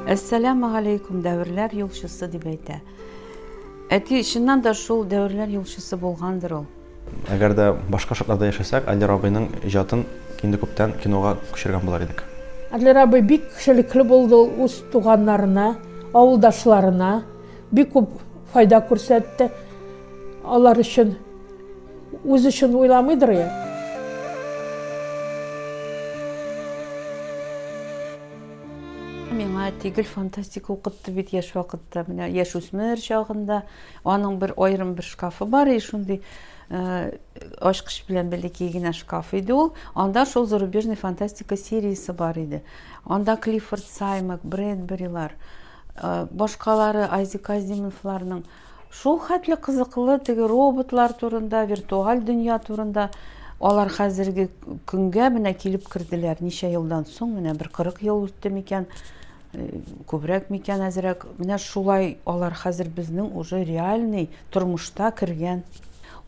Әссәләмә галәйкүм дәверләр юлчысы дип әйтә. Әти чыннан да шул дәверләр юлчысы булгандыр ул. Әгәр дә башка шартларда яшәсәк, Аллер абыйның иҗатын инде күптән кинога күчергән булар идек. Аллер абый бик кешелекле булды ул үз туганнарына, авылдашларына. Бик күп файда күрсәтте. Алар өчен үз өчен уйламыйдыр я. Миңа тигел фантастика укытты бит яш вакытта, менә яш үсмер чагында. Аның бер аерым бер шкафы бар и шундый э, ачкыч белән бәләкәй генә шкаф иде ул. Анда шул зарубежный фантастика сериясе бар иде. Анда Клиффорд Саймак, Брэдберилар, башкалары Айзек Азимовларның шул хәтле кызыклы теге роботлар турында, виртуаль дөнья турында алар хәзерге көнгә менә килеп керделәр. Ничә елдан соң, менә бер 40 ел үтте микән, э, күбрәк микән, әзрәк. Менә шулай алар хәзер безнең уже реальный тормышта кергән.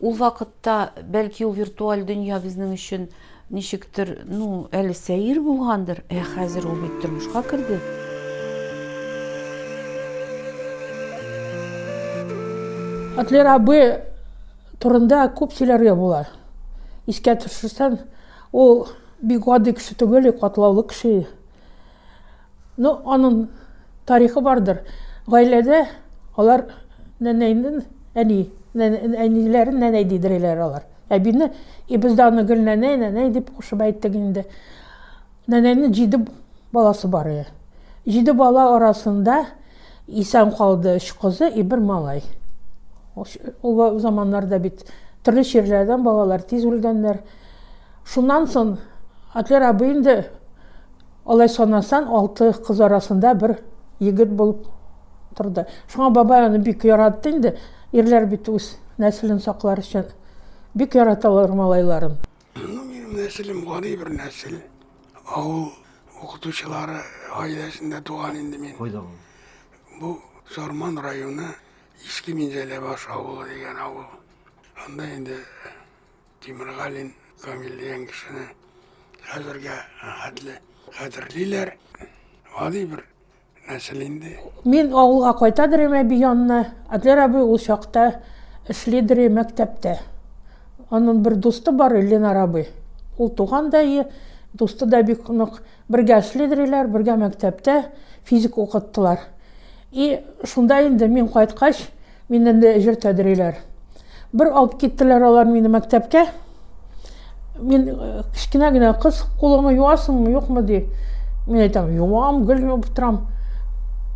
Ул вакытта бәлки ул виртуаль дөнья безнең өчен Ничектер, ну, әле сәер булгандыр, ә хәзер ул бит тормышка керде. Атлер абы турында күп сөйләргә була. Искә төшерсәм, ул бик гади кеше түгел, катлаулы кеше. Ну, анын тарихы бардыр. Гаиләдә алар нәнәйнен әни, әниләрен нәнәй дидереләр алар. Әбине, и без дә аны гел нәнәй, нәнәй дип кушып әйттек инде. Нәнәйнең җиде баласы бар иде. Җиде бала арасында исән калды өч кызы, и бер малай. Ул заманнарда бит төрле чирләрдән балалар тиз үлгәннәр. Шуннан соң Атлер абый инде Алай санасаң, алты кыз арасында бер егет булып торды. Шуңа бабай аны бик яратты инде. Ирләр бит үз нәселен саклар өчен бик яраталар малайларын. Ну, минем нәселем гади бер нәсел. Авыл укытучылары гаиләсендә туган инде мин. Кайда ул? Бу Сарман районы Иске Минзәләбаш авылы дигән авыл. Анда инде Тимергалин Камил дигән кешене хәзергә хәтле хәтерлиләр. Гади бер нәсел инде. Мин авылга кайта дирем әби янына. Адлер абый ул чакта эшли дире мәктәптә. Аның бер дусты бар, Ленар абый. Ул туган да и дусты да бик нык. Бергә эшли диреләр, бергә мәктәптә физик укыттылар. И шунда инде мин кайткач, Миннән дә әҗер тәдриләр. Бер алып киттеләр алар мине мәктәпкә. Мин э, кечкенә генә кыз, кулыңны юасыңмы, юкмы ди. Мин әйтәм, юам, гел юып торам.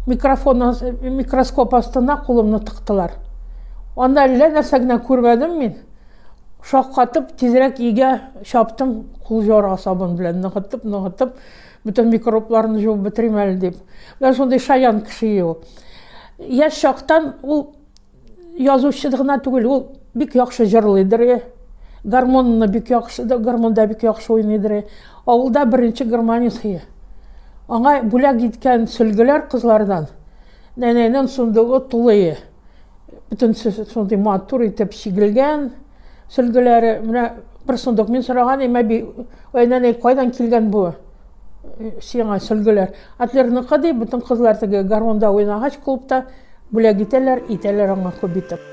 Микрофон, микроскоп астына кулымны тыктылар. Анда әллә нәрсә генә күрмәдем мин. Шаккатып, тизрәк өйгә чаптым, кул җора сабын белән ныгытып, ныгытып. Бүтән микробларны җуып бетерим әле дип. Менә шундый шаян кеше ул. Яшь чактан ул язучы гына түгел, ул бик яхшы җырлыйдыр. Гармонны бик яхшы, гармонда бик яхшы уйныйдыр. Авылда беренче гармонист. Аңа бүләк иткән сөлгеләр кызлардан Нәнәйнең сундугы тулые. Бөтенесе шундый матур итеп чигелгән. Сөлгеләре, менә бер сундук мин сораган идем, әби, ой, нәнәй, кайдан килгән бу? Сиңа сөлгеләр. Атлерныкы ди, бөтен кызлар теге гармунда уйнагач клубта бүләк итәләр, итәләр аңа күп итеп.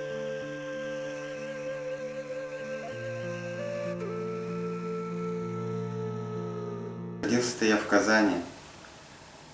Родился я в Казани.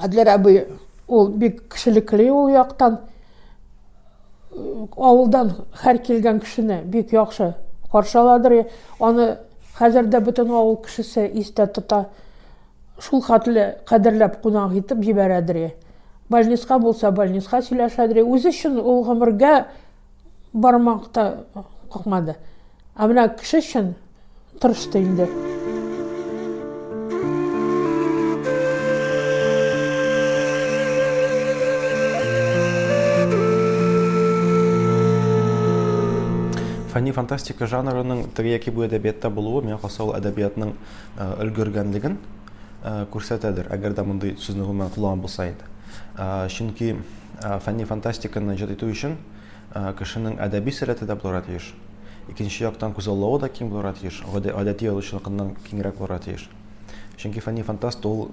Әдиләр әби ул бик кешелекле ул яктан авылдан һәр килгән кешене бик яхшы каршыладыр аны хәзер дә бөтен авыл кешесе истә тота Шул хәтле кадерләп кунак итеп җибәрәдри. Больниска булса, больниска сөйләшәдри. Үзе өчен ул гомергә бармак та какмады. Ә менә кеше өчен тырышты инде. фәнни фантастика жанрының теге яки бу әдәбиятта булуы миңа калса ул әдәбиятның э, өлгергәнлеген э, күрсәтәдер, әгәр дә мондый сүзне гомумән кулланган булса иде. Э, чөнки фәнни фантастиканы иҗат итү өчен кешенең әдәби сәләте дә булырга тиеш. Икенче яктан күзаллавы да киң булырга тиеш, гадәти язучылыкның киңрәк булырга тиеш. Чөнки фәнни фантаст ул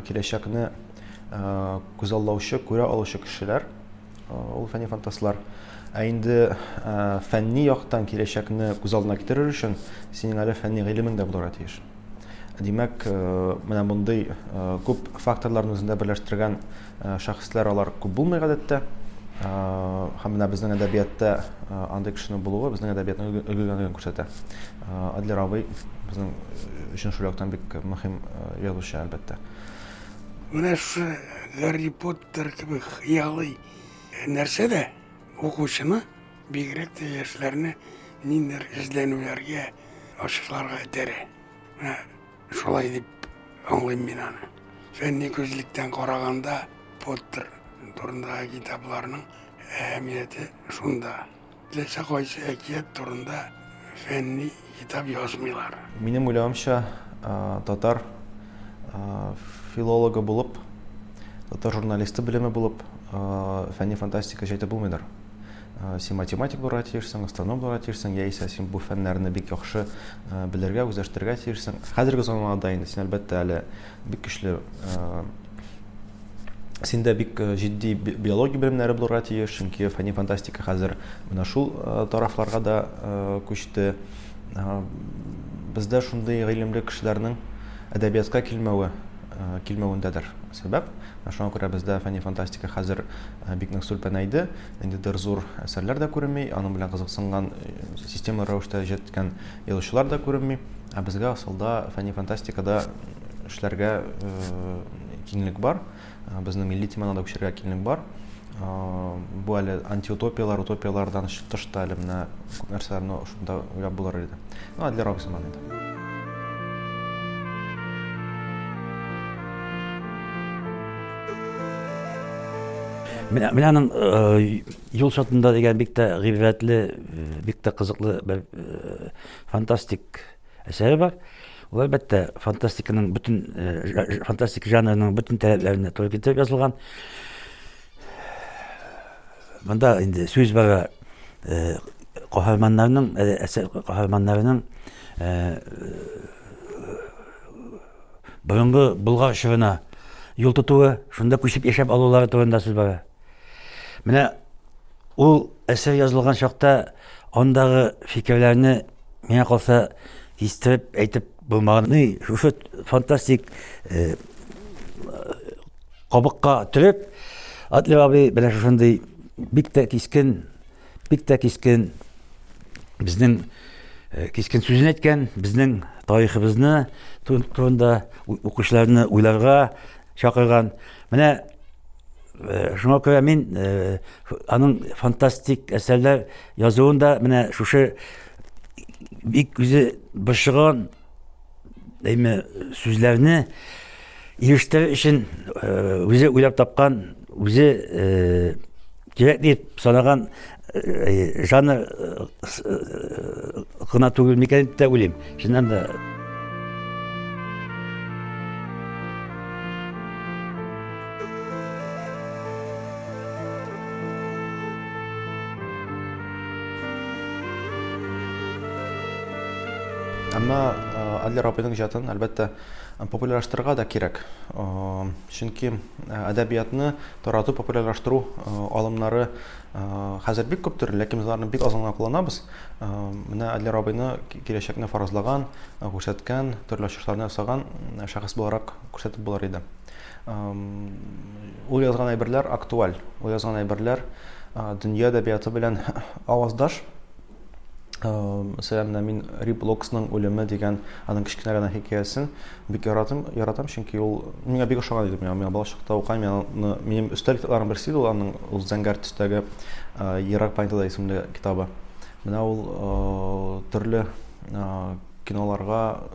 киләчәкне күзаллаучы, күрә алучы кешеләр, Ул фәнни фантастлар. Ә инде фәнни яктан киләчәкне күз алдына китерер өчен синең әле фәнни гыйлемең дә булырга тиеш. Димәк, менә мондый күп факторларны үзендә берләштергән шәхесләр алар күп булмый гадәттә. Һәм менә безнең әдәбиятта андый кешенең булуы безнең әдәбиятның өлгергәнлеген күрсәтә. Адлер абый безнең өчен шул яктан бик мөһим язучы, әлбәттә. Менә шушы Гарри Поттер Докторлыктыр кебек хыялый нәрсә дә укучыны, бигрәк тә яшьләрне ниндидер эзләнүләргә, ачышларга этәрә. Менә шулай дип аңлыйм мин аны. Фәнни күзлектән караганда, Поттер турындагы китапларның әһәмияте шунда. Теләсә кайсы әкият турында фәнни китап язмыйлар. Минем уйлавымча, татар филологы булып, татар журналисты белеме булып, фәнни фантастика җәйтеп булмыйдыр. Син математик булырга тиешсең, астроном булырга тиешсең, яисә син бу фәннәрне бик яхшы белергә, үзләштерергә тиешсең. Хәзерге заманда инде син, әлбәттә, әле Бик көчле. Э, синдә бик э, җитди биология белемнәре булырга тиеш, чөнки фәнни фантастика хәзер менә шул э, тарафларга да күчте. Бездә шундый гыйлемле кешеләрнең әдәбиятка килмәве килмәвендәдер сәбәп. Шуңа күрә бездә фәнни фантастика хәзер бик нык сүлпәнәйде. Инде дер зур әсәрләр дә күренми, аның белән кызыксынган система рәвештә җәткән язучылар да күренми. Ә безгә асылда фәнни фантастикада эшләргә киңлек бар. Безнең милли теманы да үчергә киңлек бар. Бу әле антиутопияләр, утопияләрдән тыш та әле менә күп нәрсәләрне шунда уйлап булыр иде. Ну, Адлер Роксман иде. Менә менә аның юл чатында дигән бик тә гыйбрәтле, бик тә кызыклы бер фантастик әсәре бар. Ул әлбәттә фантастиканың бөтен э, фантастик жанрының бөтен таләпләренә туры китереп язылган. Монда инде сүз бара э, каһарманнарның э, әсәр каһарманнарының борынгы Болгар чорына юл тотуы, шунда күчеп яшәп алулары турында сүз бара. Менә ул әсәр язылган чакта андагы фикерләрне миңа калса кистереп әйтеп булмаган. Ни, шушы фантастик э, кабыкка төреп, Атлы абый менә шушындый бик тә кискен Бик тә кискен безнең э, кискен сүзен әйткән, безнең тарихыбызны турында укучыларны уйларга чакырган. Менә э, шуңа күрә мин э, аның фантастик әсәрләр язуын да менә шушы бик үзе борчыган Әйме сүзләрне ирештер өчен э, үзе уйлап тапкан, үзе э, кирәк дип санаган э, жанр гына түгел микән дип тә уйлыйм. Чыннан да Әмма Адлер абыйның иҗатын, әлбәттә, популярлаштырырга да кирәк. Чөнки әдәбиятны тарату, популярлаштыру алымнары хәзер бик күп төрле, ләкин без аларны бик аз гына кулланабыз. Менә Адлер абыйны киләчәкне фаразлаган, күрсәткән, төрле ачышларны ясаган шәхес буларак күрсәтеп булыр иде. Ул язган әйберләр актуаль. Ул язган әйберләр дөнья әдәбияты белән аваздаш. Мәсәлән, мин Рип Локсның үлеме дигән аның кечкенә генә хикәясен бик яратам, яратам, чөнки ул миңа бик ошаган иде. Миңа балачакта укыйм, миңа минем өстәл китапларым берсе иде ул аның ул зәңгәр төстәге Ерак планетада исемле китабы. Менә ул төрле Киноларга,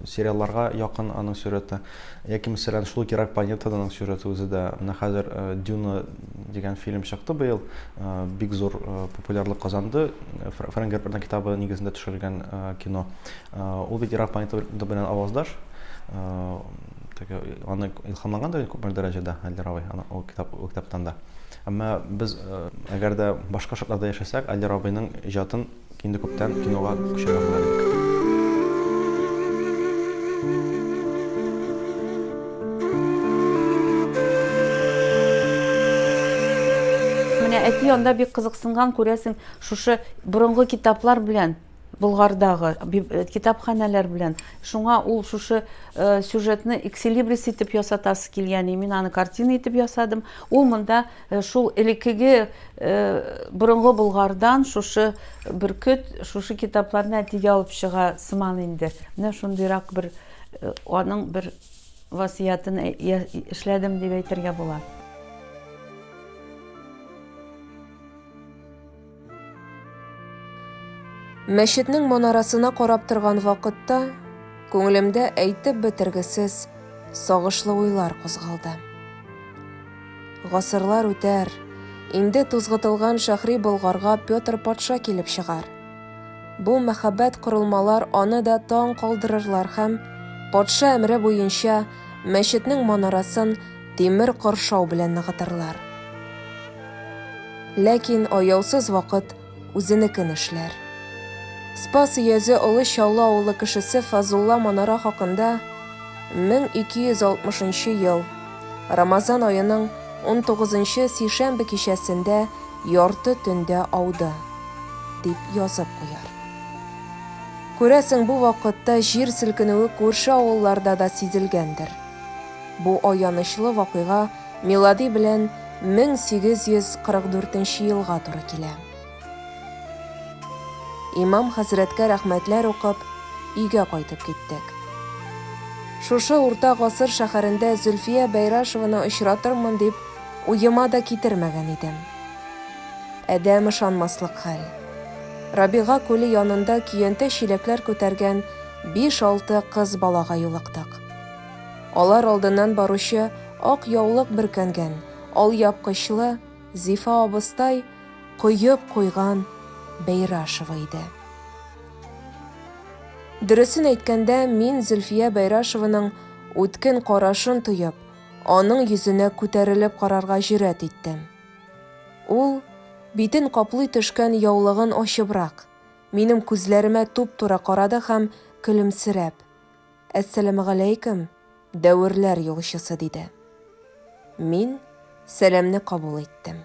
сериалларга якын аның сюжеты. Яки, мәсәлән, шул Кирак планетада аның сюжеты үзе дә. Менә хәзер Дюна дигән фильм чыкты быел. Бик зур популярлык казанды. Фрэнк Герберның китабы нигезендә төшерелгән кино. Ул бит Кирак планетада белән аваздаш. Теге аны илһамланган да күпме дәрәҗәдә Али Рабай, аны ул китап, ул китаптан да. Әмма без әгәр дә башка шартларда яшәсәк, Али Рабайның иҗатын Инде күптән кинога күчәргә була бит. Менә әти анда бик кызыксынган, күрәсең, шушы борынгы китаплар белән Болгардагы э, китапханәләр белән. Шуңа ул шушы э, сюжетны эксилибрис итеп ясатасы килгән, и мин аны картина итеп ясадым. Ул монда Э, шул элеккеге э, борынгы болгардан шушы бөркет шушы китапларны әтигә алып чыга сыман инде менә шундыйрак бер э, аның бер васыятын эшләдем дип әйтергә була Мәчетнең манарасына карап торган вакытта күңелемдә әйтеп бетергесез сагышлы уйлар кузгалды. Гасырлар үтәр, инде тузгытылган шәхри Болгарга Петр патша килеп чыгар. Бу мәхәббәт корылмалар аны да таң калдырырлар һәм, патша әмере буенча, мәчетнең манарасын тимер коршау белән ныгытырлар. Ләкин аяусыз вакыт үзенекен эшләр. Спас өязе Олы Чаллы авылы кешесе Фазулла Манара хакында 1260 ел Рамазан аеның 19-нчы сишәмбе кичәсендә ярты төндә ауды, дип язып куяр. Күрәсең, бу вакытта җир селкенүе күрше авылларда да сизелгәндер. Бу аянычлы вакыйга милади белән 1844 нче елга туры килә. Имам хәзрәткә рәхмәтләр укып, өйгә кайтып киттек. Шушы урта гасыр шәһәрендә Зөлфия Бәйрашеваны очратырмын дип уема да китермәгән идем. Адәм ышанмаслык хәл. Рабига күле янында көянтә-чиләкләр күтәргән биш-алты кыз балага юлыктык. Алар алдыннан баручы ак яулык бөркәнгән, алъяпкычлы Зифа абыстай коеп куйган Бәйрашева иде. Дөресен әйткәндә, мин Зөлфия Бәйрашеваның үткен карашын тоеп, аның йөзенә күтәрелеп карарга җөрьәт иттем. Ул, битен каплый төшкән яулыгын ачыбрак, минем күзләремә туп-туры карады һәм, көлемсерәп. Әссәламегаләйкем, дәверләр юлчысы, диде. Мин сәламне кабул иттем.